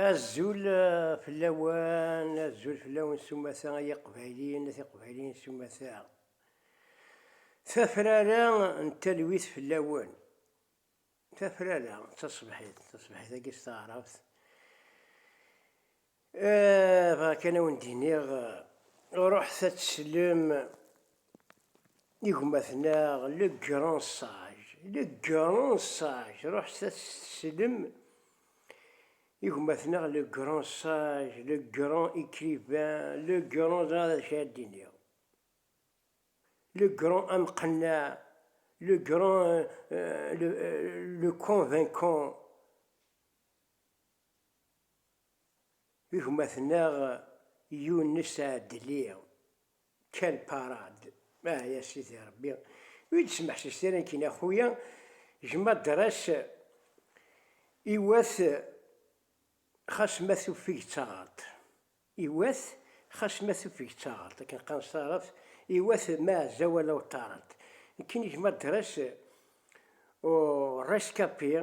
Azul fell-awen, azul fell-awen s umata ay iqbayliyen, at iqbayliyen s umata. Tafrara n talwit fell-awen. Tafrara d taṣebḥit, taṣebḥit-agi s taɛrabt. Aah, bɣiɣ kan ad wen-d-iniɣ, ruḥet ad teslem i gma-tneɣ le grand sage, le grand sage, ruḥet ad teslem i gma-tneɣ le grand sage, le grand écrivain, le grand, ẓriɣ d acu ara d-iniɣ, le grand amqenneɛ, le grand, le, le convaincant. Gma-tneɣ Yunes Ɛedli, quelle parade! Ah ya Sidi Rebbi, ur yi-d-smeḥsiset ara nekkini a xuya, gma Dres iwat xas ma tuffeg d taɣert, iwat xas ma tuffeg d taɣert, akken qqaren s taɛrabt, iwat ma ɛezza wala uṭṭarent. Nekkini gma Dres ur rescapés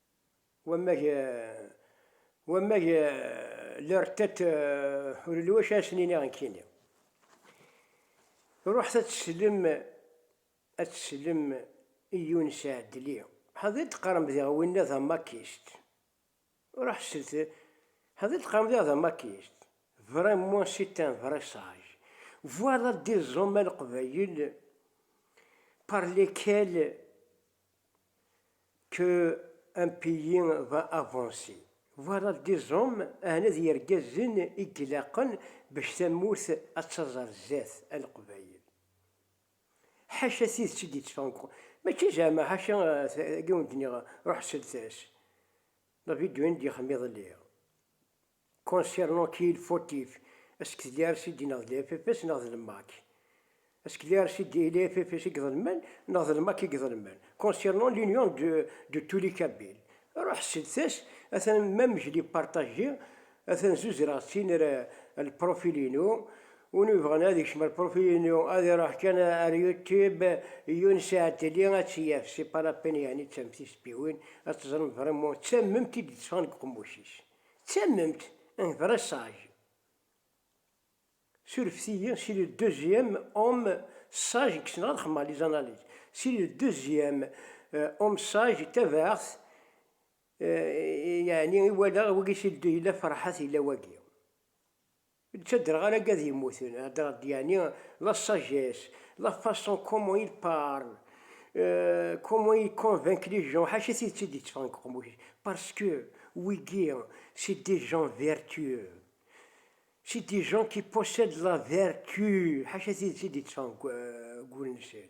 Wammag wammag leur tête ur yelli wacu ara sen-iniɣ nekkini. Ruḥet ad tsellem ad tsellem i Younes Adli. Ḥader d-teqqarem diɣ winna d amakist. Ruḥ sel ḥader d-teqqarem diɣ d amakist. Vraiment c'est un vrai sage. Voilà des hommes a Leqbayel par lesquels Que un pays va avancer. Voilà des hommes, ahna d yergazen i ilaqen bac tamurt ad taẓ ar zat, a Leqbayel. Ḥaca tidet i d-yetteffɣen deg uqerru. Mačči zeɛma ḥaca agi wen-d-nniɣ ruḥ slet-as. David Duin d-yexdem iḍelli. Concernant qui il fautif, est-ce que d-yar si d-ineɣ d l'FFS neɣ d l'MAC? Est-ce que d-yar si d-il est FFS i geḍelmen neɣ d l'MAC i geḍelmen? Concernant l'union de de tous les Kabyles, ruḥ ssedet-as, atan même je l'ai partagé, atan zuzreɣ-tt-in ar ar l'profil-inu, win yebɣan ad yekcem ar l'profil-inu ad iruḥ kan ar YouTube, Younes Aateli, ad tt-yaf, c'est pas la peine yeɛni d tamtilt, bbi win ad teẓrem vraiment d tammemt i d-itteffɣen deg uqemmuc-is. D tamemt n dressage. Surfet-iyi, c'est le deuxième homme sage i yessneɣ ad xedmeɣ les analyses. C'est le deuxième homme sage tabaɛt yeɛni i walaɣ wagi c'est le deux yella Ferḥat yella wagi. D taderɣal aga d yemmuten, hedreɣ d yani la sagesse, la façon comment il parle, comment il convainc les gens, ḥaca tidet i d-yetteffɣen deg uqemmuc-is, parce que wigi c'est des gens vertueux, c'est des gens qui possèdent la vertu, ḥaca tidet i d-yetteffɣen deg wul-nsen.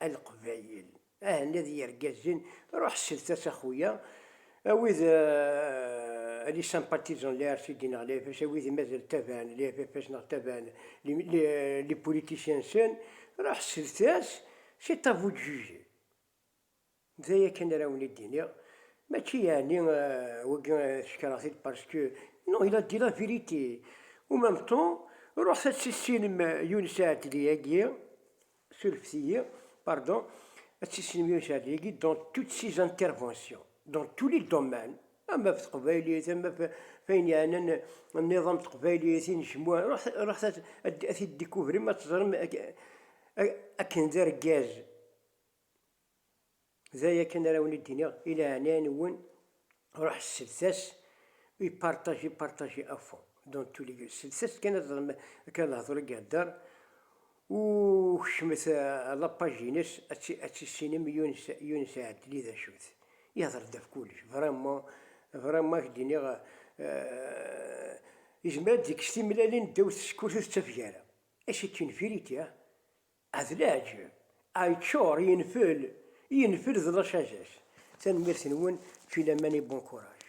A leqbayel, a henna d yergazen, ruḥ slet-as a xuya, a wid, a les sympathisants de la RCD neɣ l'AFS, a wid i mazal ttabaɛen l'AFFS neɣ ttabaɛen les politiciens-nsen, ruḥ slet-as, c'est à vous de juger. D aya kan ara awen-id-iniɣ, mačči yeɛni wagi ssekreɣ-t-id parce que non il a dit la vérité, au même temps ruḥet ad tissinem Younes Aɛeddliagi, surfet-iyi, pardon, ad tissinem Younes Aɛeddliagi dans toutes ses interventions, dans tous les domaines, ama ɣef teqbaylit, ama ɣef wayen yeɛnan nniḍam n teqbaylit, inejmuɛ, ruḥet ad t-id-découvrem ad teẓrem akken d argaz. D aya kan ara wen-id-iniɣ, i leɛnaya-nwen ruḥ slet-as i partager partager à fond dans tous les lieux, slet-as kan ad teẓrem akka lehdur i ihedder u kecmet à la page-ines ad tissinem Younes Younes Aadli d acu-t, ihedder-d ɣef kullec vraiment vraiment ak-d-iniɣ izmer ad d-yekkes timellalin ddaw tsekkurt ur tettafeg ara et c'est une vérité ah. Ah d leɛǧeb! Ah yeččur, yenfel, yenfel d la sagesse! Tanemmirt-nwen, puis la main et bon courage.